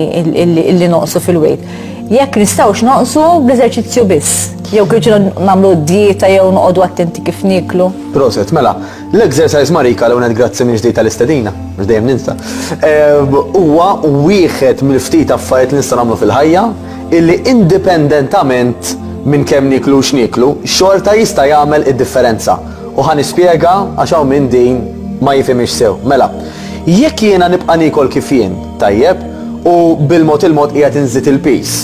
illi noqsu fil-wejt. Jekk nistgħux noqsu bl-eżerċizzju biss, jew kif nagħmlu dieta jew noqogħdu attenti kif niklu. Proset, mela, l-exercise marika l għonet grazzi minn ġdejta l-istedina, mhux dejjem ninsa. Ehm, huwa wieħed mill-ftit affarijiet li nista' nagħmlu fil-ħajja illi indipendentament minn kemm niklu x'niklu, xorta jista' jagħmel id-differenza. U ħan ispjega għax hawn minn din ma jifhimx sew. Mela, Jekk jiena nibqa' niekol kif jien, tajjeb, u bil-mod il-mod qiegħed inżid il-piż,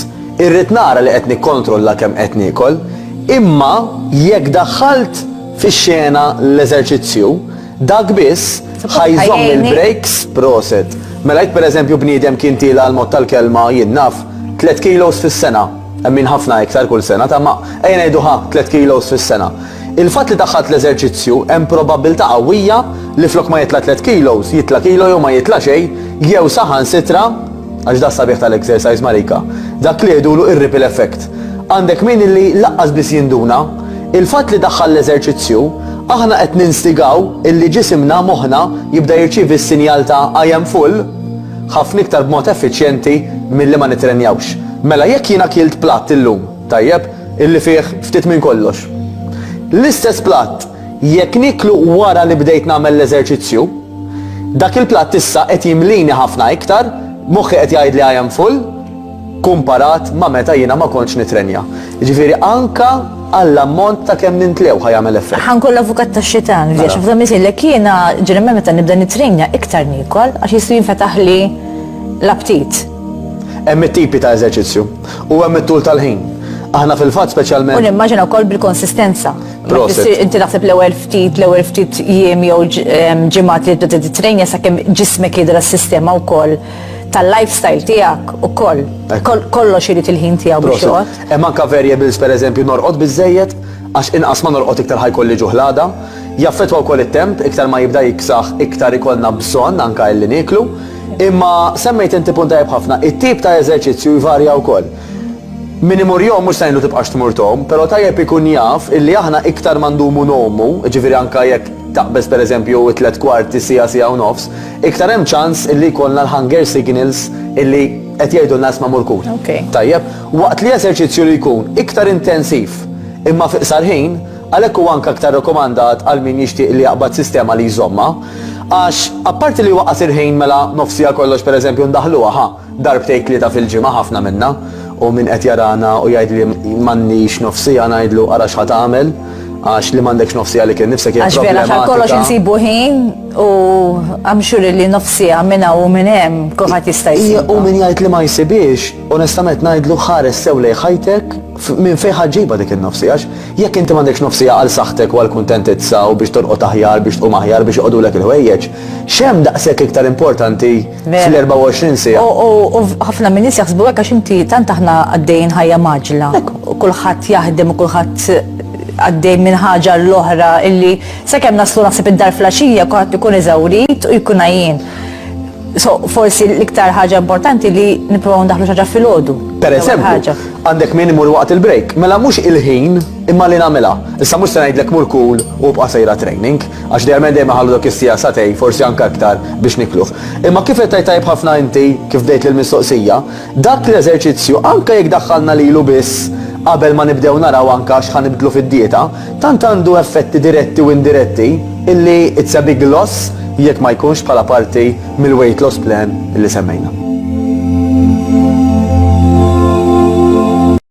irrid nara li qed nikkontrolla kemm qed niekol. Imma jekk daħħalt fix-xena l-eżerċizzju, dak biss ħa jżomm il-breaks, proset. Mela jekk pereżempju bniedem kien tiela għall-mod tal-kelma, jien naf, tliet kilos fis-sena, hemm min ħafna iktar kull sena, ta' ma ejja ngħidu ħa tliet kilos fis-sena. Il-fatt li daħħalt l-eżerċizzju, hemm probabbiltà qawwija li flok ma jitla' tliet kilos, jitla' kilo jew ma jitla' xejn, jew saħansitra, għax da s-sabiħ tal-exercise Marika, dak li jgħidulu ir-ripple effect. Għandek min illi laqqas biss jinduna, il-fatt li daħħal l-eżerċizzju, aħna qed ninstigaw illi ġisimna, moħħna, jibda jirċievi s-sinjal ta' I am full ħafna iktar b'mod effiċjenti milli ma nittrenjawx. Mela jekk jiena kilt platt illum, Tajjeb, illi fih ftit minn kollox. L-istess platt, jekk nieklu wara li bdejt nagħmel l-eżerċizzju, dak il-platt issa qed jimlini ħafna iktar, moħħi qed jgħidli I am full, kumparat ma' meta jiena ma kontx nittrenja. Jiġifieri anke għall-ammont ta' kemm nintlew ħa jagħmel effett. Ħa nkun l-avukat tax-xitan, għax f'dan misilek jiena ġeneralment meta nibda nittrenja iktar niekol għax jista' jinfetaħli l-aptit. Hemm it-tipi ta' eżerċizzju. U hemm it-tul tal-ħin. Aħna fil-fatt speċjalment. U nimmaġina wkoll bil-konsistenza. Inti naħseb l-ewwel ftit, l-ewwel ftit jiem jew ġimgħat li tibda tittrejna sakemm ġismek jidher s-sistema wkoll tal-lifestyle tiegħek ukoll. Kollox irid il-ħin tiegħu biex joqgħod. Hemm anke variables pereżempju norqod biżżejjed għax inqas ma norqod iktar ħajkolli ġuħ l-għada. Jaffettwa wkoll it-temp, iktar ma jibda jiksaħ iktar ikollna bżonn anke illi nieklu. Imma semmejt inti punt tajjeb ħafna, it-tip ta' eżerċizzju jvarja wkoll. Min imur jgħum mhux se ngħidlu tibqax tmur tgħum, però tajjeb ikun jaf illi aħna iktar ma ndumu ngħumu, jiġifieri anke jekk taqbeż pereżempju t-tliet kwarti siegħa, siegħa u nofs, iktar hemm ċans illi jkollna l-hunger signals illi qed jgħidulna isma' mur kul. Tajjeb? Waqt li eżerċizzju li jkun iktar intensiv imma fi qsar ħin, Għalhekk huwa anke aktar rekomandat għal min jixtieq li jaqbad sistema li jżommha. Għax, apparti li huwa qasir ħin mela nofsi għal kollox pereżempju ndaħħluha, ħa, darbtejn tlieta fil-ġimgħa ħafna minnha, u min qed jarana u jgħid li m'għandniex nofs siegħa ngħidlu ara x'ħa tagħmel għax li m'għandekx nofs siegħa lilek innifsek hija problematika. Għax vera għal kollox insibu ħin u I'm sure li nofs siegħa minn hawn u minn hemm kulħadd jista' jsibha. U min jgħid li ma jsibiex, onestament ngħidlu ħares sew lejn ħajtek minn fejn ħa ġġibha dik in-nofs siegħa. Jekk inti m'għandekx nofs siegħa għal saħħtek u għall-kuntentizza u biex torqod aħjar, biex tqum aħjar, biex joqogħdulek il-ħwejjeġ, x'hemm daqshekk iktar importanti fl-24 siegħa? U ħafna min-nies jaħsbu hekk għax inti tant aħna għaddejjin ħajja mgħaġġla. Kulħadd jaħdem u kulħadd għaddej minn ħaġa l-oħra illi sakemm naslu naħseb id-dar flaxija kulħadd ikun eżawrit u jkun għajjien. So, forsi l-iktar ħaġa importanti li niprofaw ndaħlu ħaġa fil-ħodu. Per eżempju, għandek min imur waqt il-break, mela mux il-ħin imma li namela. Issa mux se ngħidlek mur kull u bqa' sejra training, għax dejjem dejjem ħallu dak is-sija satej, forsi anke aktar biex nikluh. Imma kif qed tajb ħafna inti kif bdejt l-mistoqsija, Dak l-eżerċizzju, anke jekk daħħalna lilu biss qabel ma nibdew naraw anke x'ħa nibdlu fid-dieta, tant għandu effetti diretti u indiretti illi it's a big loss jekk ma jkunx bħala parti mill-weight loss plan illi semmejna.